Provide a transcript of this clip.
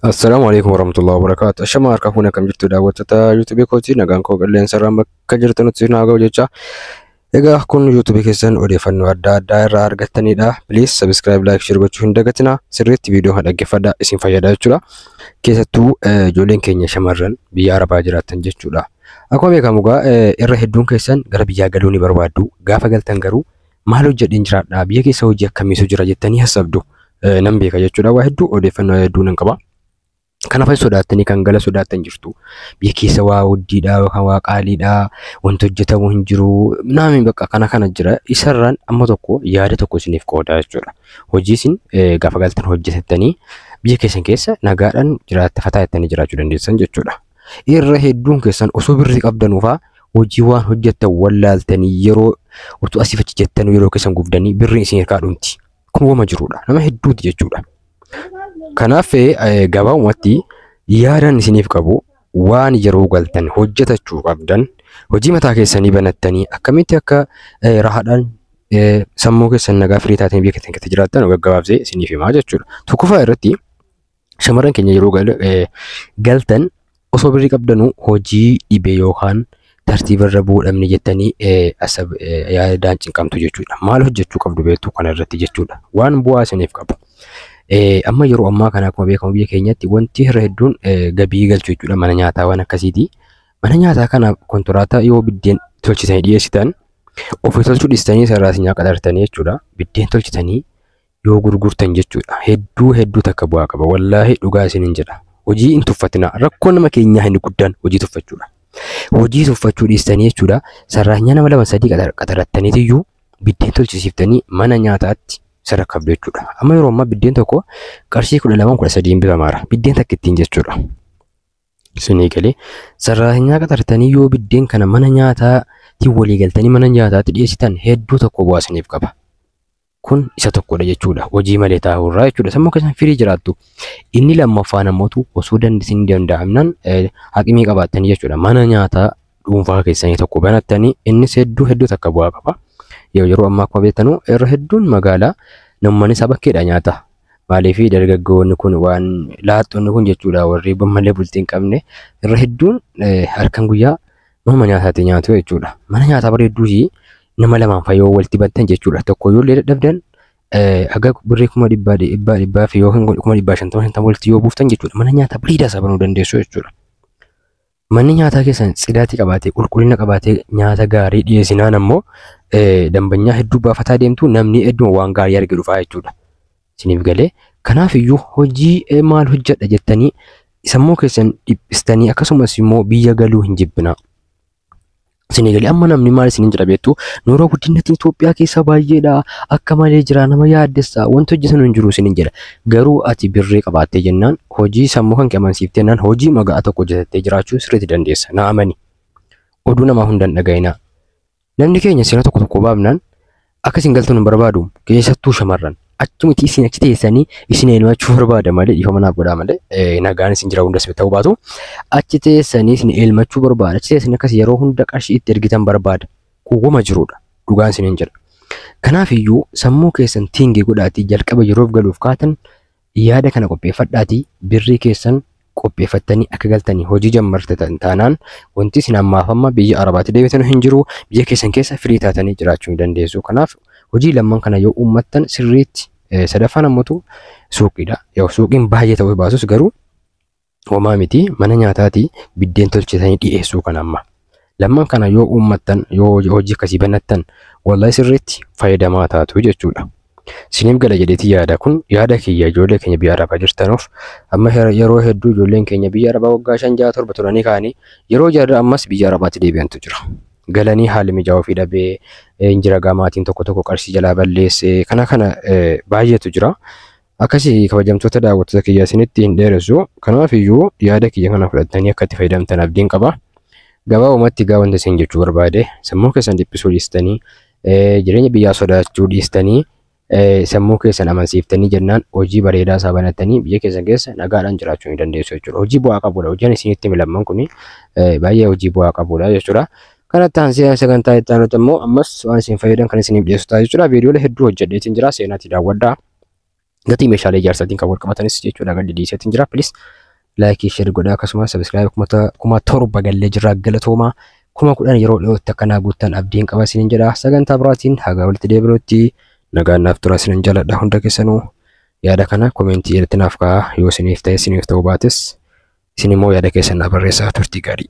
Assalaamu alaikum warahmatullahi wabarakatuh. Ashama harka fuune akkam jirtu daawwattoota YouTube kooti nagaan koo qilleensa irraan bakka jirtanutti isin haa ga'u jecha. Egaa kun YouTube keessan odeeffannoo adda addaa irraa argattanidha. Please subscribe, like, share gochuu hin dagatina. Sirriitti viidiyoo kana dhaggeeffadha isin fayyada jechuudha. Keessattuu eh, ijoolleen keenya shamarran biyya Arabaa jiraatan jechuudha. Akkuma beekamu egaa eh, irra hedduun keessan gara biyyaa galuu ni barbaaddu. Gaafa galtan garuu Maal hojjedheen jiraadha? Biyya keessa hojii akkamiitu jira jettanii hassabdu. Nan beeka jechuudha. Waa hedduu odeeffannoo hedduu nan qaba. Kana fa'i sodaattanii kan gala sodaattan jirtu. Biyya keessa waa hojjiidha yookaan waa qaaliidha. Wanti hojjetamu hin jiru. Naami bakka kana kana jira. Isarraan amma tokko yaada tokko isiniif qooda jechuudha. Hojii isin gaafa galtan hojjetattanii biyya keessan keessa nagaadhaan jiraatta fataa jettanii jiraachuu dandeessan jechuudha. Irra hedduun keessan osoo birrii qabdanuu faa hojii waan hojjettan wallaaltanii yeroo utuu asii fachi jettanuu yeroo keessan gubdanii birriin isin harkaa dhumti. Kun wama jirudha. Nama hedduuti jechuudha. Kanaaf eh, gabaabumatti yaadaan isiniif qabu waan yeroo galtan hojjetachuu qabdan hojii mataa keessanii banattanii akkamitti akka eh, rahaadhaan eh, sammuu keessan nagaa firii taatanii biyya keessan keessa jiraattan gaggabaabsee isiniif himaa jechuudha. Tokkoffaa irratti Shamarran keenya yeroo gal- eh, galtan osoo birrii qabdanuu hojii dhibee yookaan tartiiba irra bu'uu dhabne jettanii eh, asab- eh, yaadaan cinqamtu jechuudha. Maal hojjechuu qabdu beektu kana irratti jechuudha. Waan bu'aa isiniif qabu. Eh, Amma yeroo ammaa kana akkuma beekamu biyya keenyatti wanti irra hedduun eh, gabii galchu jechuudha mana nyaataa waan akkasiiti. Mana nyaataa kana kontiraataa yoo biddeen tolchitanii dhiyeessitan ofii tolchuu dhiistanii sararaatiin nyaata qaxartanii jechuudha. Biddeen tolchitanii yoo gurgurtan jechuudha hedduu hedduu takka bu'aa qaba wallaahi dhugaa isinin jedha hojii hin tuffatina rakkoo nama keenyaa inni guddaan hojii tuffachuudha hojii tuffachuu dhiistanii jechuudha sarraanyaa nama lama sadii qaxar- qaxarattaniitiyyuu biddeen tolchisiiftanii mana nyaataatti sadarkaaf jechuudha amma yeroo ammaa biddeen tokko qarshii kudha lamaan kudha sadiin bitamaara biddeen takka ittiin jechuudha isinii galee sarraanyaa qaxartanii yoo biddeen kana mana nyaataatiin walii galtanii mana nyaataatti dhiyeessitan hedduu tokko bu'aa isiniif qaba kun isa tokkodha jechuudha. Hojii malee taa'uu irraa jechuudha. Sammuu keessan firii jiraattu. Inni lammaffaan ammoo osoo dandeessin danda'amnaan haqimii qabaattanii jechuudha. Mana nyaataa dhuunfaa keessanii tokko banattanii innis hedduu hedduu takka bu'aa qaba. Yoo yeroo ammaa akkuma beektanu irra hedduun magaalaa namni isaa bakkeedha nyaata. Maaliif dargaggoonni kun waan laaxxonni kun jechuudha warri malee bultii hin qabne irra hedduun halkan guyyaa manuma nyaataatti nyaatu jechuudha. Mana nyaataa bareedduu nama lamaan fa yoo walitti bantan jechuudha tokko yoo illee dadhabdan haga birrii kuma dhibbaa dhibbaa dhibbaa fi yookiin kuma dhibbaa shantama shantama walitti yoo buuftan jechuudha mana nyaataa bareedaa isaa banuu dandeessu jechuudha. Manni nyaataa keessan tsidaatii qabaatee qulqullina qabaatee nyaata gaarii dhiyeessinaan ammoo dambanyaa hedduu baafataa deemtu namni hedduun waan gaarii arge dhufaa jechuudha. Isiniif galee kanaaf iyyuu hojii maal hojjedha jettanii sammuu keessan dhiphistanii akkasumas immoo biyya galuu hin jibbinaa. Isinii galee amma namni maal isiniin jedha beektu nuura guddinnatiin Itoophiyaa keessa baay'eedha akka malee jira nama yaaddessa wanti hojjetan hin jiru isiniin jedha garuu ati birrii qabaattee jennaan hojii sammuu kan qabansiifte jennaan hojii maga'aa tokko hojjetattee jiraachuu sirriitti dandeessa na amani oduu namaa hundan dhaga'inaa namni keenya seera tokko tokko baafnaan Akka isin galtan hin barbaadu keessattuu shamarran. Achi miti isin achi teessanii isin elmachuu barbaada malee dhiifama naaf godhaa malee eh, nagaan isin jira hundas ta'uu baatu achi teessanii isin elmachuu barbaada achi teessanii akkas yeroo hunda qarshii itti ergitan barbaada kuuwwama jirudha dhugaan isin hin jedha. Kanaaf iyyuu sammuu keessan tiingii godhaatii jalqaba yeroof galuuf kaatan Yaada kana qopheeffadhaatii birrii keessan qopheeffattanii akka galtanii hojii jammartatan taanaan wanti isin ammaaf amma biyya arabaatti deebitan hin jiru biyya keessan keessa firii taatanii jiraachuu ni dandeessu. Kanaaf hojii lamman kana yoo uummattan sirriitti sadaffaan ammatu suuqiidha. Yoo suuqiin baay'ee ta'uu baatus garuu homaa miti mana nyaataati biddeen tolchisanii dhiyeessuu kan amma. Lamman kana yoo uummattan yoo hojii hojii akkasii banattan wallahi sirriitti fayyadamaa taatu jechuudha. Siniif gala jedheeti yaada kun yaada kiyya ijoollee keenya biyya arabaa jirtanuuf amma her- yeroo hedduu ijoolleen keenya biyya arabaa waggaa shan ja'a torba turanii kaanii yeroo jarri ammas biyya arabaatti deebi'antu jira. Galanii haalli mijaa'aa ofii dhabee eh, injira gamaatiin tokko tokko qarshii jalaa balleessee kana kana eh, baay'eetu jira. Akkasi kabajamtoota daawwattoota kiyya isinitti hin dheeressu. Kanaaf iyyuu yaada kiyya kana fudhattanii akka itti fayyadamtan abdiin qaba. Gabaabumatti egaa wanta isin jechuu barbaade sammuu keessan dhiphisuu dhiistanii jireenya biyyaa sodaachuu dhiistanii sammuu keessan amansiiftanii jennaan hojii bareedaa isaa banatanii biyya keessan keessa nagaadhaan jiraachuu ni dandeessu jechuudha. Hojii bu'aa qabudha. Hojiin isinitti milamman kun baay'ee hojii bu'aa qabudha jechuudha. Kanatti aansee sagantaa itti aanutti immoo ammas waan isin fayyadan kan isiniif dhiyeessu ta'a jechuudha. Viidiyoolee hedduu hojjedheetiin jira seenaatti daawwadhaa. gatii meeshaalee ijaarsaatiin kan wal qabatanis jechuudha gadi dhiiseetiin jira. Pilis laayikii sheer godhaa akkasumas sabiskiraayib kuma torba gallee jirra galatoomaa kuma kudhan yeroo dhiyootti akkanaa guuttan abdiin qaba isinin jedha sagantaa biraatiin hagaa walitti deebinutti nagaan naaf tura isinin jaladha hunda keessanuu yaada kana komentii irratti naaf kaa'aa yoo isiniif ta'e isiniif ta'uu baates isin immoo yaada keessan naaf barreessaa turtii gaarii.